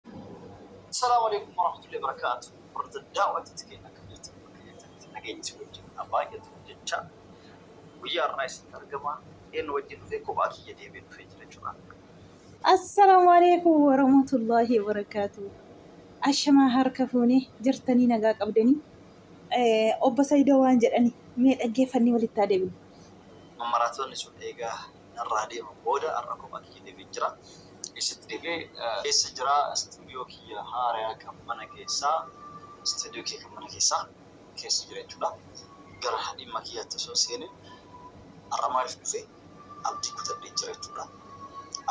Assalaamu Aleeykum Warahmatullahi Wabarakaatuh Warda Daawwattoota keenya akkam jirtu bakka jirtanitti nageenyi isin wajjin haa baay'atu jechaa guyyaa har'aa isinitti argama eenyu wajjin dhufee kophaa kiyya deebi'ee dhufee jira jechuudha. Assalaamu Aleeykum Warahmatullahi Wabarakaatuh Ashamaa harka fuunee jirtanii nagaa qabdanii Eh, obbo Saidoo waan jedhani mee dhaggeeffannee walitti haa deebinu. Mammaraatoonni sun eegaa narraa deemuun booda har'a kophaa kiyya deebi'een jira. Eessatti deebi'e? Eessa jira? Istuudiyoo kiyya haaraya kan mana keessa, istuudiyoo kiyya kan mana keessa, keessa jira jechuudha. Gara dhimma kiyyaatti osoo hin seenin har'a maaliif dhufe? Abdii kutadheen jira jechuudha.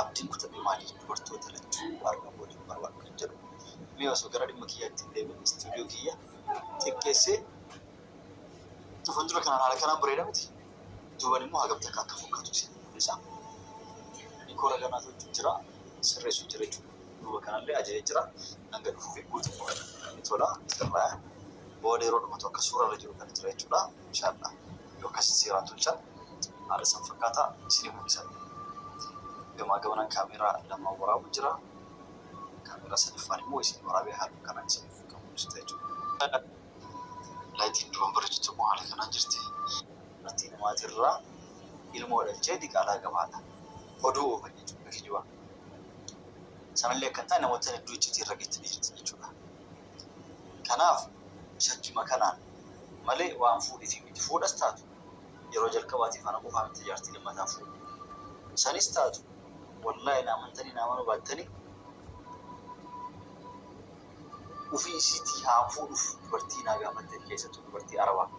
Abdiin kutadhe maali? Dubartoota lachuu argan waliin barbaadhu kan jedhu. Mee osoo gara dhimma kiyyaatti hin deemin istuudiyoo kiyya xiqqeessee fuuldura kanaan haala kanaan bareeda miti? Duuban immoo hagam takka akka fokkatu isin mul'isa. Dikora kanaa tolchu jira, sirreessu jira jechuudha. Duuba kanallee ajaje jira. Hanga dhufuufi guutummaa ni tola, ni sirraya. Booda yeroo dhumatu akka suura irra jiru kana jira jechuudha. Inshaallah yoo akkasitti seeraan tolchan haala san fakkaata isinii mul'isa. Gamaa gamanaan kaameeraa lamaan waraabu jira. Kaameeraa sadaffaan immoo isinii waraabee haaluma kanaan isiniif kan mul'isu ta'a jechuudha. Layitiin duraan bareedu tokko haala kanaan jirti. Dubartii namaatirraa ilmoo dhalchee diqaalaa qaba haadha. Oduu oofan jechuudha akka kijibaa. Sanallee akka hin taane namoottan hedduu iccitii irra geettanii jirtan jechuudha. Kanaaf shakkima kanaan malee waan fuudhiifi miti. Fuudhas taatu yeroo jalqabaatiif ana qofaa miti jaartii lammataa fuudhu. Sanis taatu wallaahi na amantanii na amanuu baattanii. ufii isiitii haa fuudhuuf dubartii naa gaafattani keessattuu dubartii arabaa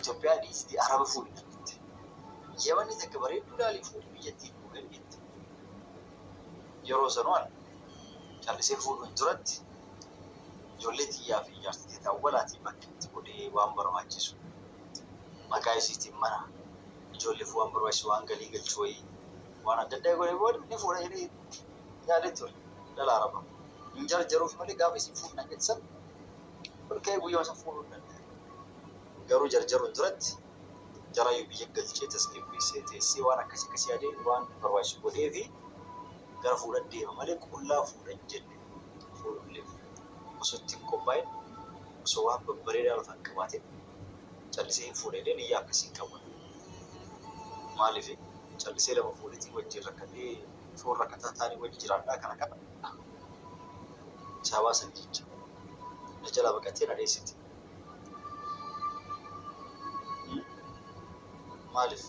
Itoophiyaa dhiisiti araba fuudhi nan jette yamanni takka bareedduu laalii fuudhi biyyattii dhufuu dandeetti yeroo sanuu an callisee fuudhu hin turatti ijoollee tiyyaa fi jaartii tiyya awwalaatii bakka itti godhee waan barbaachisu maqaa isiitiin mana ijoolleef waan barbaachisu waan galii galchu wayii waan adda addaa godhee booda ni fuudha jedhee yaade ture dhala arabaa hin jarjaruuf malee gaafa isin fuudhu na jettan ol ka'ee guyyuma san fuudhuu hin danda'u. Garuu jarjaruun duratti jaraayyuu biyya galchee tasgabbeessee teessee waan akkas akkas yaadee waan barbaachisu godhee fi gara fuudhan deema malee qullaa fuudha hin jenne fuudhullee osoo itti hin qophaa'in osoo waan babbareedaa lafa hin qabaatin callisee hin fuudha jedhee niyyaa akkasii hin qabu. Maaliif callisee lafa fuudhetii wajjin rakkatee Foon rakkataa taane wajji jiraadhaa kana qabadhaa. Saabaa san jecha. Na jalaa baqattee na dheessite. Maaliif?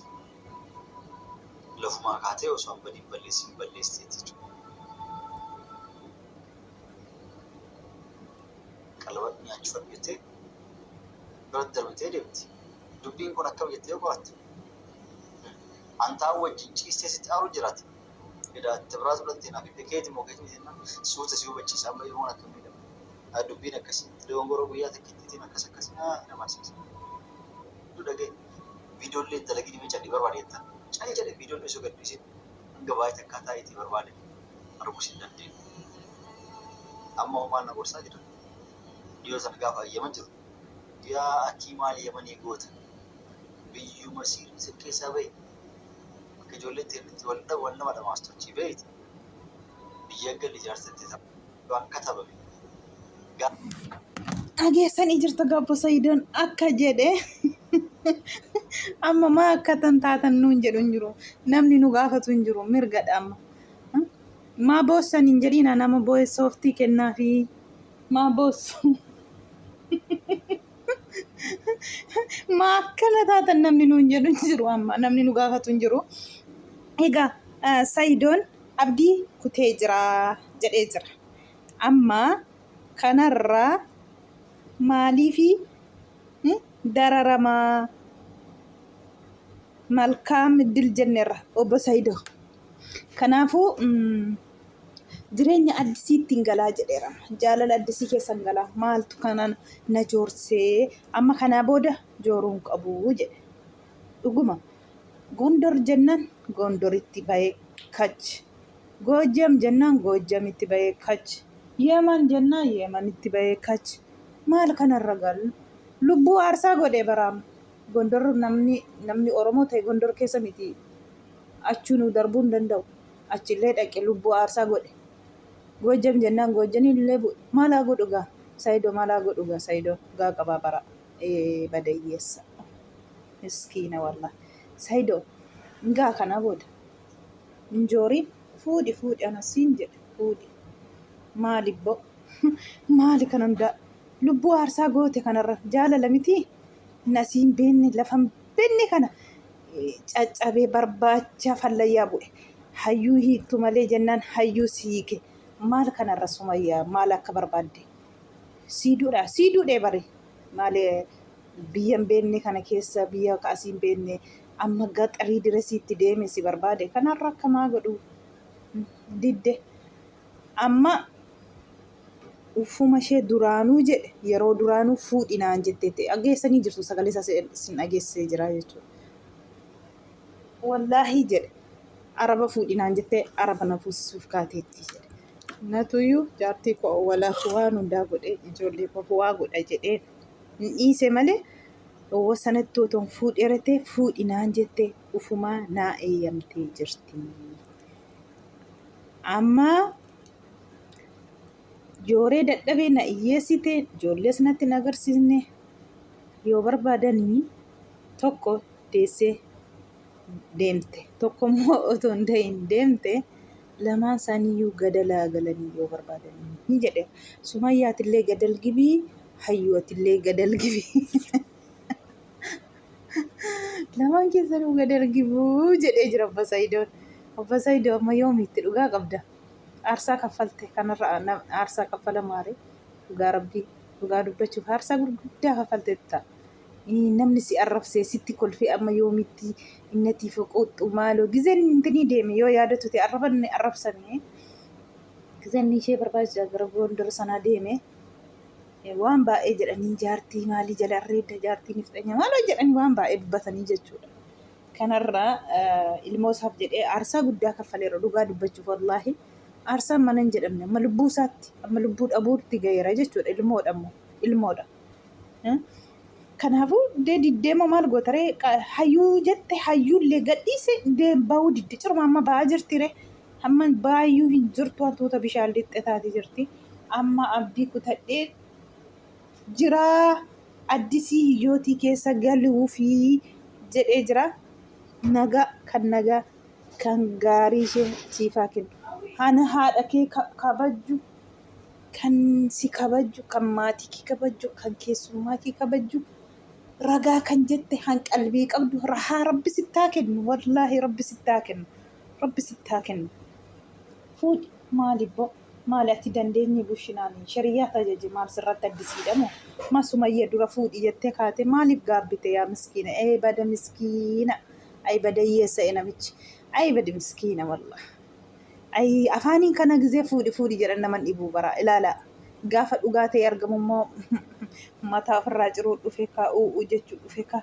Lafumaa kaatee osoo an badiin balleessiin balleessite jechuudha. Qalaba nyaachifadhu jettee biratti darbitee deemti. Dubbiin kun akkam jettee yoo qorattu? Antaa wajjin ciistee sitti aaruu jirata. Edaa itti biraa fudhattee naa bibbee keeti moo keeti miti jennaan suuta si hubachiisa amma ilmoon akka miidhamu. Haa dubbiin akkasi. Dogongoroo guyyaa takkittiitiin akkas akkas naa na barsiisa. Hunduu dhagahi. Viidiyoo illee hin dalagini mee calli barbaadi jettaan. Calli jedhe viidiyoo illee osoo gad dhiisin hanga baay'ee takkaa taa'iitii barbaade arguus hin dandeenye. Amma hoo maal na gorsaa jedhan. Viidiyoo sana gaafa ayyaman jiru. Yaa atii maal yamanii goota biyyuu masiir isin keessaa bahi bakka ijoolleen tee itti wal dha wal nama dhamaastu achii bahiiti biyyaa galli jaarsa tee ta, waan katabame gaa. Dhageessanii jirtu gabbo sayidoon akka jedhe amma maa akkatan taatan nuun jedhu hin jiru namni nu gaafatu hin jiru mirgadha amma Maa boossan hin jedhiina nama booye sooftii kennaafii maa boossu maa akkana taatan namni nuun jedhu hin jiru amma namni nu gaafatu hin jiru egaa eh, sayidoon abdii kutee jira jedhee jira amma kanarraa maaliifi hmm, dararamaa malkaam iddil jennerra obbo sayidoo Kanaafuu jireenya addisiitti hin galaa jedheera. Jaalala addisii keessa hin galaa. Maaltu kana na joorsee amma kanaa booda jooruu hin qabu jedhe. Dhuguma Gondor jennaan Gondoritti bahee kach. Goojjam jennaan Goojjamitti bahee kach. Yeeman jennaan Yeemanitti bahee kach. Maal kanarra gal? Lubbuu aarsaa godhee baraam. Gondor namni namni Oromoo ta'e Gondor keessa miti achuu nuu darbuu hin danda'u. Achi illee dhaqe lubbuu aarsaa godhe. Goojjam jennaan Goojjaniin illee bu'e. Maal haa godhu gaa? Saidoo maal haa godhu gaa Saidoon gaa qabaa bara ee bada hiyyeessa. Miskiina wallah. Saidoo gaa kanaa booda hin jooriin fuudhi fuudhi ana siin jedhe fuudhi. Maali bbo? Maali kan hundaa? Lubbuu aarsaa goote kanarra jaalala mitii? nasii hin beenne lafa hin beenne kana eh, caccabee barbaacha fallayyaa bu'e hayyuu hiiktu malee jennaan hayyuu si hiike maal kanarra sumayyaa maal akka barbaadde sii duudha sii duudhee bari maalee biyya hin beenne kana keessa biyya ka asii hin beenne amma gaxarii diresiitti deeme si barbaade kanarra akka maa godhu didde amma Uffuma ishee duraanuu jedhe yeroo duraanuu fuudhi naan jetteetti dhageessanii jirtu sagalee isaa sin dhageessee jira jechuudha. Wallaahii jedhe araba fuudhi naan jettee araba na fuusisuuf kaateetti jedhe. Natuyyuu jaartii koo awwalaaf waan hundaa godhee ijoollee koof waa godha jedhee hin dhiise malee dhowwa sanatti otoon fuudhee ratee fuudhi naan jettee ufumaa naa eeyyamtee jirti. Amma Jooree dadhabee na iyyeessite ijoollees natti hin agarsiisne yoo barbaadanii tokko deessee deemte tokko immoo otoo hin da'iin deemte lamaan isaaniiyyuu gadalaa galanii yoo barbaadanii jedhe sumayyaatillee gadal gibii hayyuwatillee gadal gibii lamaan keessanuu gadal gibuu jedhee jira obbo Sayidoon obbo Sayidoo amma yoomiitti dhugaa qabda. Aarsaa kaffalte kanarra aarsaa kaffala maaree dhugaa rabbii dhugaa dubbachuuf aarsaa gurguddaa kaffalteetta. Namni si arrabsee sitti kolfee amma yoomitti innati foqooxxu maaloo gizeen intinii deeme yoo yaadatu ta'e arraban arrabsame gizeen ishee barbaachisa gara gondor sanaa deeme waan baay'ee jedhanii jaartii maalii jala arreedda jaartii nifxanya maaloo jedhanii waan baay'ee dubbatanii jechuudha. kanarra ilmoo isaaf jedhee aarsaa guddaa kaffaleera dhugaa dubbachuuf wallaahi aarsaan mana hin jedhamne amma lubbuu isaatti amma lubbuu dhabuutti gaheera jechuudha ilmoodha immoo ilmoodha. Kanaafuu deema maal gootaree hayyuu jette hayyuullee gadhiise deem baa'uu didde ciruma amma baa'aa jirtire amma baay'uu hin jirtu hantuuta bishaan lixxe taate jirti amma abdii kutadhee jira addisii hiyyootii keessa galuufii jedhee jira naga kan naga kan gaarii ishee siifaa kennu hana haadha kee kabajju kan si kabajju kan maatii kee kabajju kan keessummaa kee kabajju ragaa kan jette kan qalbii qabdu rahaa rabbi sittaa kennu wallaahi rabbi sittaa kennu rabbi sittaa kennu fuudhi maalibboo Maali ati dandeenyi bushinaani shariyaa tajaji maal sirratti addisiidha moo ma sumayya dura fuudhi jettee kaate maaliif gaabbite yaa miskiina ee bada miskiina ayi bada hiyyeessa e namichi ayi badi miskiina wallah ayi afaaniin kana gizee fuudhi fuudhi jedhan naman dhibuu baraa ilaala gaafa dhugaa ta'e argamu immoo mataa ofirraa ciruu dhufe ka u'u jechuu dhufe ka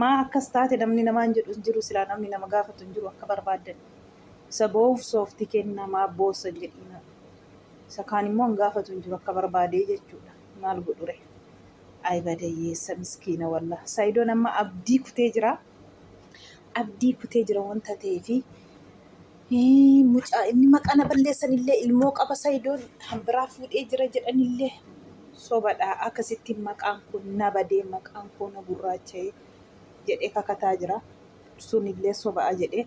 maa akkas taate namni namaan jedhu hin jiru silaa namni nama gaafatu hin jiru akka barbaaddan Isa boohuuf soofti kenna maaf boossan jedhiina. Isa kaan immoo hin gaafatu hin jiru akka barbaade jechuudha. Maal godhure. Ayi badayyeessa miskiina wallah. Saidoon amma abdii kutee jira. Abdii kutee jira wanta ta'eefi. Mucaa inni maqaa na balleessan illee ilmoo qaba Saidoon kan biraa fuudhee jira jedhan illee sobadha akkasitti maqaan kun na badee maqaan koo na gurraacha'ee jedhee kakataa jira. sunillee soba'a jedhee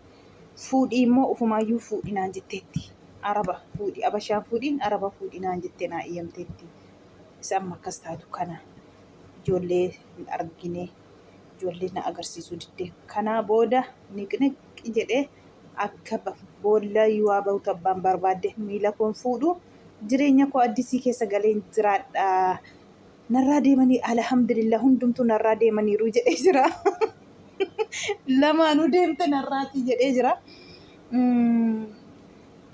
fuudhii immoo ufumaayyuu fuudhi naan jetteetti araba fuudhi abashaan fuudhiin araba fuudhi naan jettee naa eeyyamteetti isa amma akkas taatu kana ijoollee hin argine ijoollee na agarsiisuu didde kanaa booda niqniqi jedhee akka ba- boolla yoo ba'utu abbaan barbaadde miila koon fuudhu jireenya koo addisii keessa galeen jiraadha narraa deemanii alhamdulillah hundumtuu narraa deemaniiru jedhee jira. Lamaanuu deemte narraati jedhee jira.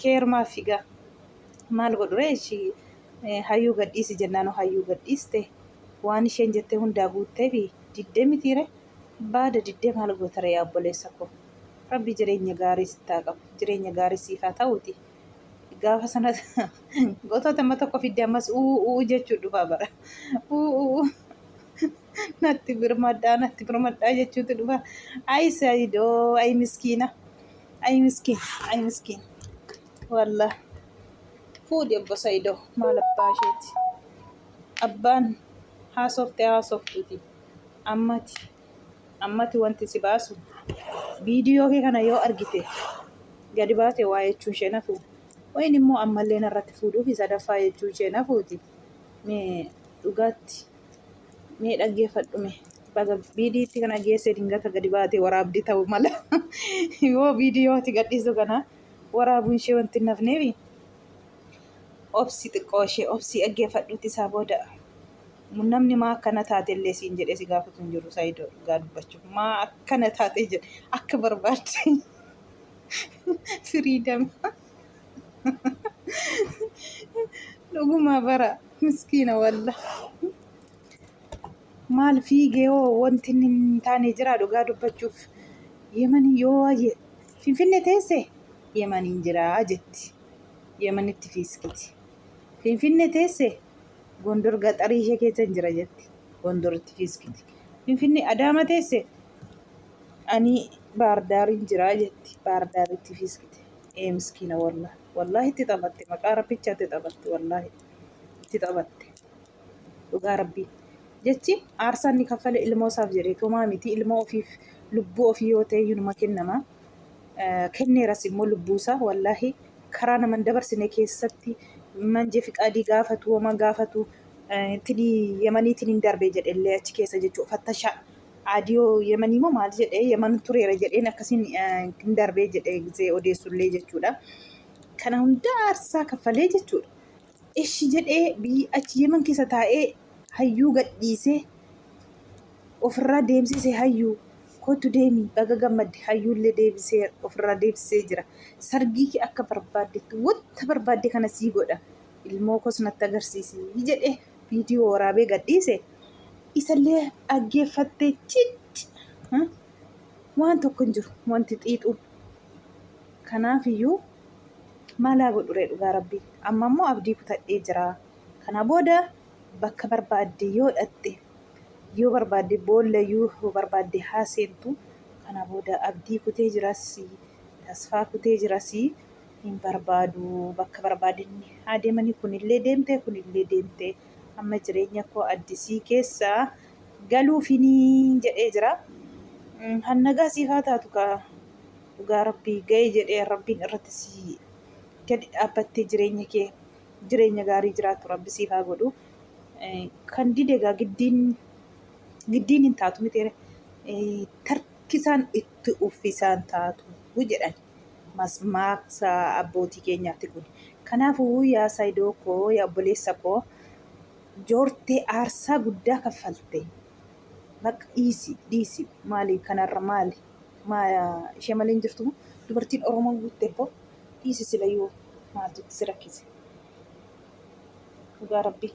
Keerumaa figaa maal godhuree ishii hayyuu gadhiisi jennaanu hayyuu gadhiiste waan isheen jettee hundaa guuttee fi diddee mitiire baada diddee maal gootara yaa obboleessa koo rabbi jireenya gaarii sittaa qabu jireenya gaarii siifaa ta'uuti. Gaafa sana gotoota amma tokko fidde ammas uu uu jechuu dhufaa bara. Uu uu natti birmadhaa natti birmadhaa jechuutu dhufa. Ayi saayidoo ayi miskiina ayi miskiin ayi miskiin wallah fuudhi obbo saayidoo maal abbaa isheeti abbaan haasofte haasoftuuti ammati. ammati wanti si baasu viidiyoo kee kana yoo argite gadi baate waa jechuun ishee nafu wayin immoo ammallee narratti fuudhuu fi sadaffaa jechuun ishee nafuuti mee dhugaatti mee dhaggeeffadhume baga viidiyitti kana geesse dingata gadi baate waraabdi ta'u mala yoo viidiyooti gadhiisu kana waraabuun ishee wanti nafneefi obsi xiqqoo ishee obsi dhaggeeffadhuuti isaa booda. Namni maa akkana taate illee siin jedhee si gaafatu hin jiru Saayidoo dhugaa dubbachuuf. Maa akkana taate jedhe akka barbaadde firiidam. Dhugumaa bara miskiina walla. Maal fiigee hoo wanti inni hin taane jira dhugaa dubbachuuf. Yemanii yoo waayee Finfinnee teesse Yemaniin jira jetti. Yemanitti fiiskiti. Finfinne teesse Gondor gaxarii ishee keessan jira jetti. Gondoritti fiiskiti. Finfinne Adaama teesse ani Baardaariin jira jetti. Baardaaritti fiiskite. Ee miskiina wallah. Wallahi itti taphatte maqaa rabbicha itti taphatte wallahi. Itti taphatte. Dhugaa rabbii. Jechi aarsaan ni kaffale ilmoo isaaf jedhee tumaa miti ilmoo ofiif lubbuu ofii yoo ta'e yunuma kennama. kenneeras immoo lubbuu isaa wallaahi karaa naman dabarsine keessatti manjee fiqaadii gaafatu wama gaafatu tini yamaniitiin hin darbe jedhe illee achi keessa jechuu fattasha aadiyoo yamanii moo maal jedhe yaman tureera jedheen akkasiin hin darbee jedhe gisee odeessullee jechuudha. Kana hundaa aarsaa kaffalee jechuudha. Eshi jedhee biyyi achi yeman keessa taa'ee hayyuu gadhiise ofirraa deemsise hayyuu kootu deemi baga gammadde hayyuullee deebisee ofirraa deebisee jira sargii kee akka barbaaddetti wanta barbaadde kana sii godha ilmoo koos natti agarsiisi jedhe viidiyoo waraabee gadhiise isallee dhaggeeffattee citti waan tokko hin jiru wanti xiixuun kanaafiyyuu Maal haa godhuree dhugaa rabbii amma immoo abdii kutadhee jira kana booda bakka barbaadde yoo dhatte yoo barbaadde boolla yoo barbaadde haa seentu kana booda abdii kutee jirasii tasfaa kutee jirasii hin barbaadu bakka barbaadinni haa deemanii kunillee deemtee kunillee deemtee amma jireenya koo addisii keessa galuufinii jedhee jira. Kan nagaa siif haa taatu kaa dhugaa rabbii ga'ee jedhee rabbiin irratti sii gadi dhaabbattee jireenya kee jireenya gaarii jiraatu rabbi siif haa godhu kan dide egaa giddiin giddiin hin taatu miti tarkisaan itti uffisaan taatu jedhan masmaaksa abbootii keenyaatti kun kanaafuu yaa saayidoo koo yaa obboleessa koo joortee aarsaa guddaa kaffalte bakka dhiisi dhiisi maali kanarra maali ishee malee hin jirtu dubartiin Oromoo guutte koo dhiisi silayyuu maaltu si rakkise dhugaa rabbii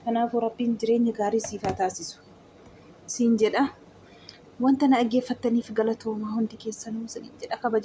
kanaafuu rabbiin jireenya gaarii siif haa taasisu siin jedha wanta na dhaggeeffattaniif galatoomaa hundi keessanuu siin jedha kabaja